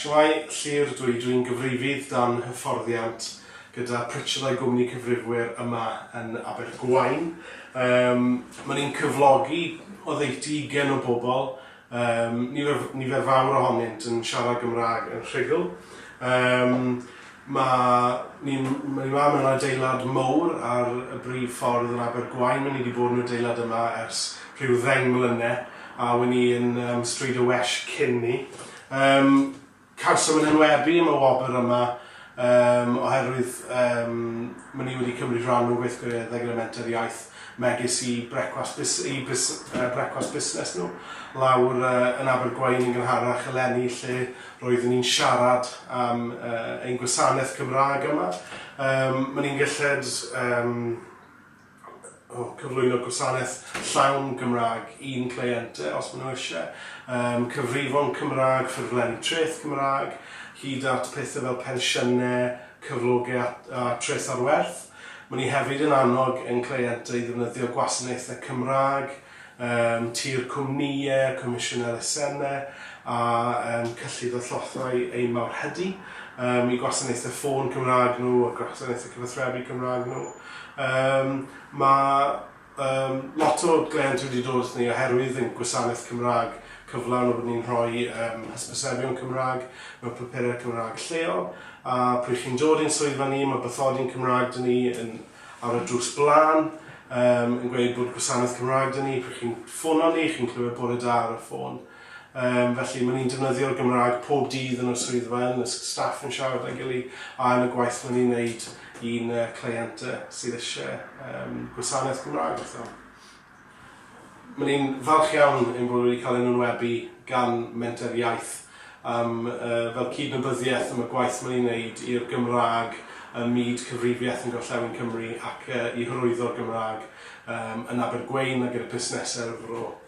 Shwmae, Llyr, dw i, dw i'n gyfrifydd dan hyfforddiant gyda Pritchard a'i gwmni cyfrifwyr yma yn Abergwaun. Yym, ma' ni'n cyflogi oddeutu ugen o bobl, yym, nifer, nifer fawr ohonynt yn siarad Gymraeg yn rhugl. Yym, Mae ni ma mewn adeilad mowr ar y brif ffordd yn Abergwaun, mae ni di bod yn adeilad yma ers rhyw ddeng mlyne, a we ni yn um, Stryd y Wesh cyn ni. Um, cawsom yn enwebu am y wobr yma um, oherwydd um, mae ni wedi cymryd rhan mewn gweithgareddau gyda Menter Iaith megis i brecwast bus- i bus- yy brecwast busnes nhw lawr yy yn Abergwaun yn gynharach eleni lle roeddwn ni'n siarad am yy ein gwasanaeth Cymraeg yma. Yym, maen ni'n gylled yym o, cyflwyno gwasanaeth llawn Gymraeg i'n cleientau os maen nhw isie, yym, cyfrifon Cymraeg, ffurflenni treth Cymraeg, hyd at pethau fel pensiynau, cyflogau a a treth ar werth. Mae ni hefyd yn annog ein cleientau i ddefnyddio gwasanaethau Cymraeg yn tu'r cwmnïau, comisiwn elusennau a cyllid a thollau ein mawrhydi, i gwasanaethau ffôn Cymraeg nhw a gwasanaethau cyfathrebu Cymraeg nhw. Mae Yym, lot o gleientiaid wedi dod ato ni oherwydd ein gwasanaeth Cymraeg cyflawn a bod ni'n rhoi yym hysbysebion Cymraeg mewn papurau Cymraeg lleol, a pryd chi'n dod i'n swyddfa ni mae bathodyn Cymraeg da ni yn ar y drws blaen yym yn gweud bod gwasanaeth Cymraeg da ni, pryd chi'n ffono ni chi'n clywed bore da ar y ffôn. Yym, felly, ma' ni'n defnyddio'r Gymraeg pob dydd yn y swyddfa, yn y s- staff yn siarad â'i gily, a yn y gwaith ma' ni'n neud i'n yy cleient yy sydd isie yym gwasanaeth Gymraeg fatha. Ma' ni'n falch iawn ein bod wedi cael ein enwebu gan Menter Iaith am yy fel cydnabyddiaeth am y gwaith ma' ni'n neud i'r Gymraeg ym myd cyfrifiaeth yn Gorllewin Cymru ac yy i hyrwyddo'r Gymraeg yym yn Abergwein a gyda busnese ar y fro.